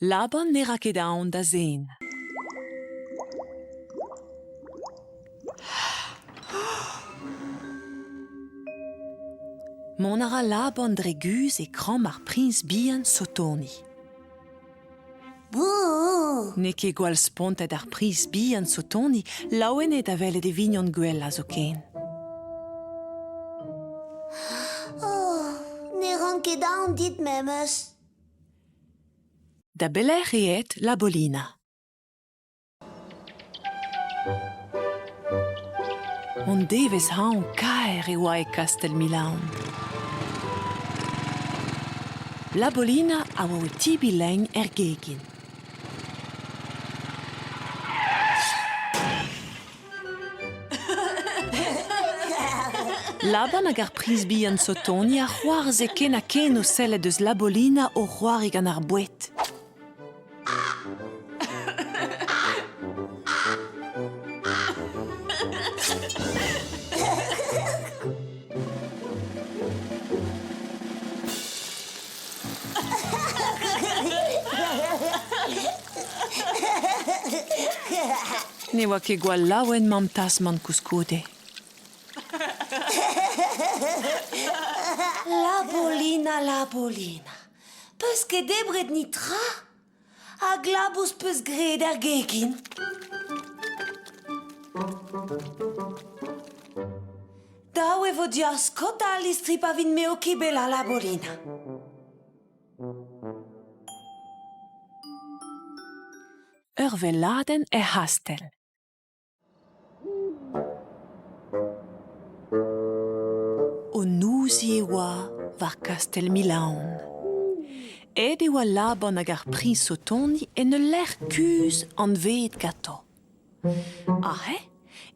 Laban ne ra ket aon da zen. Mont a ra Laban dre guzh e kramm ar priñs bihan Sotoni. N'eo ket gwall spontet ar priñs bihan Sotoni laouen eo da welet e vignon gwellañ zoken. Oh, ne ran ket aon dit memes. Da belec'h eo aet Labolina? Hon devezh-hañv kaer e oa e kastell Milaon. Labolina a oa o tibiñ lein er gegin. Laban hag ar priz bihan Sotoni a c'hoarzhe ken ha ken o sellet eus Labolina o c'hoari gant ar boued. Ne oa ket gwall laouen Mamm Tasmant koulskoude. Labourlina, Labourlina, peus ket debret nitra? Hag labous peus graet er gegin? Dav e vo diaskot al listri pa vin-me o kibelañ, Labourlina. Ur welladenn er c'hastell. O nouzier oa war kastell Milaon. Aet e oa Laban hag ar priñs o tont en ul lec'h kuzh anveet ganto. Aze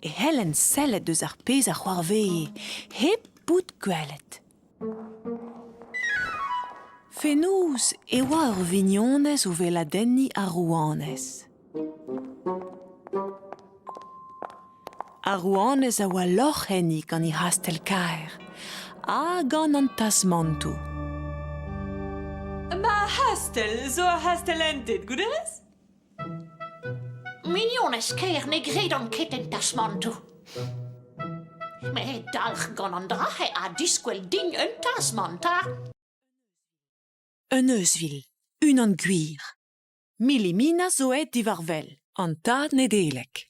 e c'hellent sellet deus ar pezh a c'hoarvee hep bout gwelet. Fenoz e oa ur vignonez o weladenniñ ar rouanez. Ar rouanez a oa lorc'h enni gant he c'hastell kaer ha gant an tasmantoù. Ma c'hastell zo ur c'hastell entet, gouderez? Mignonez ker ne gredan ket en tasmantoù. Met dalc'h gant an dra-se a diskwel din un tasmant, ha... Un euzhvil, unan gwir. Millimina zo aet diwar wel, an tad Nedeleg.